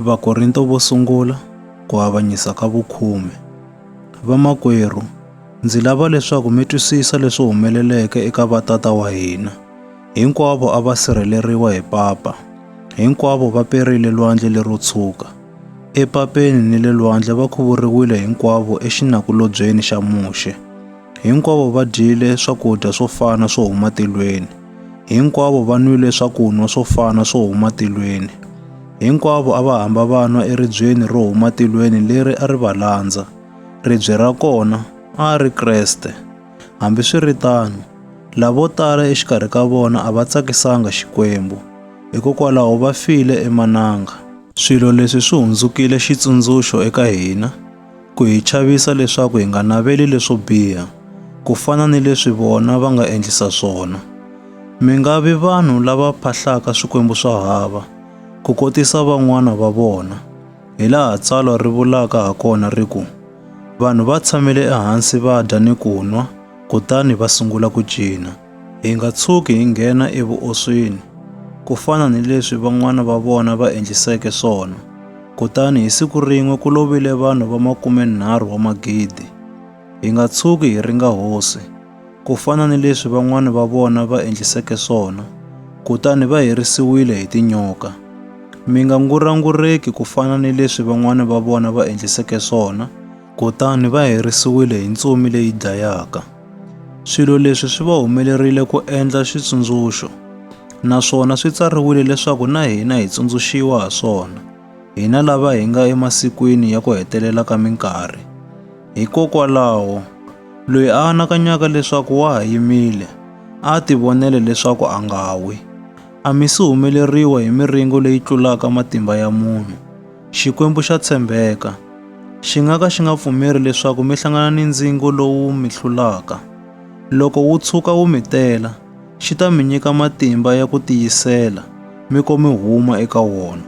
Vakorinto vo sungula ku avanyisa ka vukhume. Vamakwerhu, ndzi lava leswaku mi twisisa leswi humeleleke eka vatata wa hina. Hinkwavo a va sirheleriwa hi papa. Hinkwavo va perile lwandle lero tshuka. Epapeni ni le lwandle va khuvuriwile hinkwavo exinakulobyeni xa Muxe. Hinkwavo va dyile swakudya swo fana swo huma tilweni. Hinkwavo va nwile swakunwa swo fana swo huma tilweni. Hinkwavo a va hamba va nwa eribyeni ro huma tilweni leri a ri va landza. Ribye ra kona a ri Kreste. Hambiswiritano, lavo tala exikarhi ka vona a va tsakisanga Xikwembu, hikokwalaho va file emananga. Swilo leswi swi hundzukile xitsundzuxo eka hina. ku hi chavisa leswaku hi nga naveli leswo biha ku fana ni leswi vona va nga endlisa swona. Mi nga vi vanhu lava phahlaka swikwembu swa hava ku kotisa van'wana va vona, hi laha tsalwa ri vulaka ha kona ri ku, Vanhu va tshamile ehansi va dya ni ku nwa, kutani va sungula ku cina. Hi nga tshuki hi nghena evuoswini, ku fana ni leswi van'wana va vona va endliseke swona. Kutani hi siku rin'we ku lovile vanhu va makumenharhu wa magidi. Hi nga tshuki hi ringa hosi, ku fana ni leswi van'wana va vona va endliseke swona, kutani va herisiwile hi tinyoka. Mi nga ngurangureki ku fana ni leswi van'wana va vona va endliseke swona, Kutani va herisiwile hi ntsumi leyi dlayaka. Swilo leswi swi va humelerile ku endla xitsundzuxo, naswona swi tsariwile leswaku na hina hi tsundzuxiwa ha swona, hina lava hi nga emasikwini ya ku hetelela ka minkarhi. Hikokwalaho, loyi a anakanyaka leswaku wa ha yimile, a tivonele leswaku a nga wi. A mi si humeleriwa hi miringo leyi tlulaka matimba ya munhu, Xikwembu xa tshembeka. Xi nga ka xi nga pfumeri leswaku mi hlangana ni ndzingo lowu mi hlulaka. Loko wu tshuka wu mi tela, xi ta mi nyika matimba ya ku tiyisela mi ko mi huma eka wona.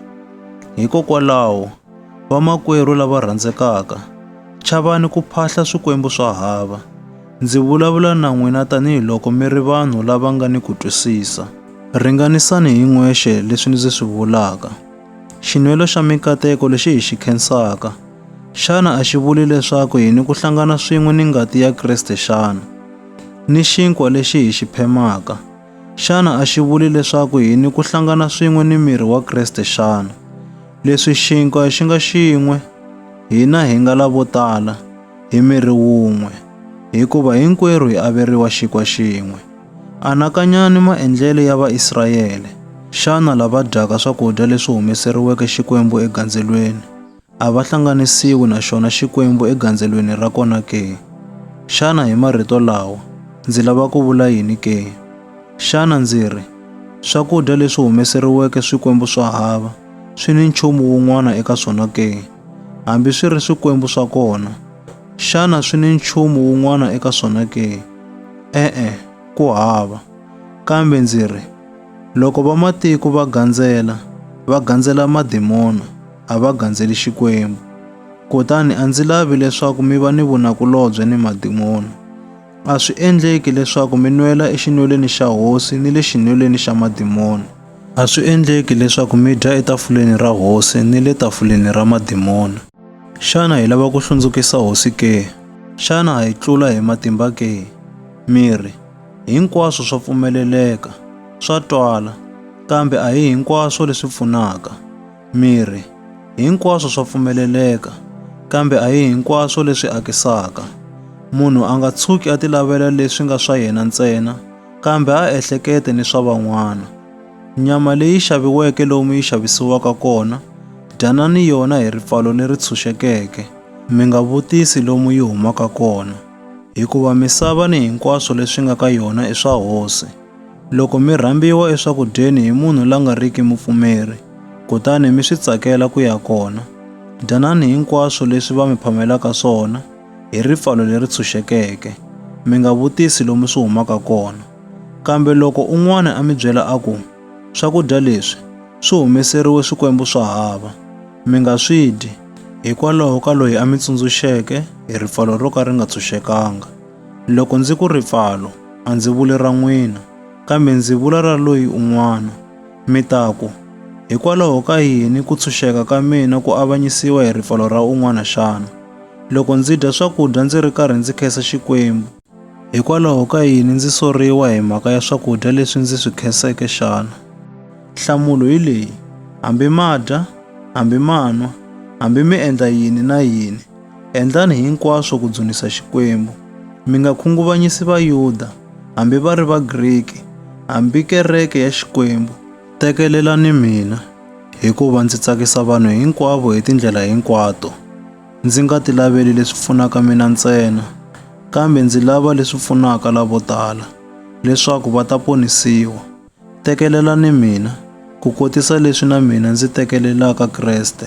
Hikokwalaho, vamakwerhu lava rhandzekaka, chavani ku phahla swikwembu swa hava. Ndzi vulavula na n'wina tanihi loko mi ri vanhu lava nga ni ku twisisa. Ringanisani hi n'wexe leswi ndzi swi vulaka. Xinwelo xa mikateko lexi hi xi khensaka, xana a xi vuli leswaku hi ni ku hlangana swin'we ni ngati ya Kriste xana? Ni xinkwa lexi hi xi phemaka, xana a xi vuli leswaku hi ni ku hlangana swin'we ni miri wa Kriste xana? Leswi xinkwa xi nga xin'we, hina hi nga lavo tala, hi miri wun'we, hikuva hinkwerhu hi averiwa xinkwa xin'we. Anakanyani maendlelo ya Vaisrayele. Xana lava dyaka swakudya leswi humeseriweke Xikwembu egandzelweni a va hlanganisiwi na xona Xikwembu egandzelweni ra kona ke? Xana hi marito lawa ndzi lava ku vula yini ke? Xana ndzi ri swakudya leswi humeseriweke swikwembu swa hava swi ni nchumu wun'wana eka swona ke? hambi swi ri swikwembu swa kona. Xana swi ni nchumu wun'wana eka swona ke? E-e, ku hava. Kambe ndzi ri, loko vamatiko va gandzela, va gandzela madimona, a va gandzeli Xikwembu. Kutani a ndzi lavi leswaku mi va ni vunakulobye ni madimona. A swi endleki leswaku mi nwela exinwelweni xa hosi ni le xinwelweni xa madimona. A swi endleki leswaku mi dya etafuleni ra hosi ni le tafuleni ra madimoni. Xana hi lava ku hlundzukisa hosi ke? Xana ha yi tlula hi matimba ke? Miri, hinkwaswo swa pfumeleleka, swa twala, kambe a hi hinkwaswo leswi pfunaka. Miri, hinkwaswo swa pfumeleleka, kambe a hi hinkwaswo leswi akisaka. Munhu a nga tshuki a tilavela leswi nga swa yena ntsena, kambe a ehlekete ni swa van'wana. Nyama leyi xaviweke lomu yi xavisiwaka kona, dyanani yona hi ripfalo leri tshunxekeke, mi nga vutisi lomu yi humaka kona, hikuva misava ni hinkwaswo leswi nga ka yona i swa Hosi. Loko mi rhambiwa eswakudyeni hi munhu la nga riki mupfumeri, kutani mi swi tsakela ku ya kona, dyanani hinkwaswo leswi va mi phamelaka swona, hi ripfalo leri tshunxekeke, mi nga vutisi lomu swi humaka kona. Kambe loko un'wana a mi byela a ku, Swakudya leswi swi humeseriwe swikwembu swa hava, mi nga swi dyi, hikwalaho ka loyi a mi tsundzuxeke hi ripfalo ro ka ri nga tshunxekanga. Loko ndzi ku ripfalo, a ndzi vuli ra n'wina, kambe ndzi vula ra loyi un'wana. Mi ta ku, Hikwalaho ka yini ku tshunxeka ka mina ku avanyisiwa hi ripfalo ra un'wana xana? loko ndzi dya swakudya ndzi ri karhi ndzi khensa Xikwembu? Hikwalaho ka yini ndzi soriwa hi mhaka ya swakudya leswi ndzi swi khenseke xana? Nhlamulo hi leyi, hambi ma dya, hambi ma nwa, hambi mi endla yini na yini, endlani hinkwaswo ku dzunisa Xikwembu. Mi nga khunguvanyisi Vayuda, hambi va ri Vagriki, hambi kereke ya Xikwembu. Tekelelani mina. Hikuva ndzi tsakisa vanhu hinkwavo hi tindlela hinkwato, ndzi nga ti laveli leswi pfunaka mina ntsena, kambe ndzi lava leswi pfunaka lavo tala, leswaku va ta ponisiwa. Tekelelani mina, ku kotisa leswi na mina ndzi tekelelaka Kreste.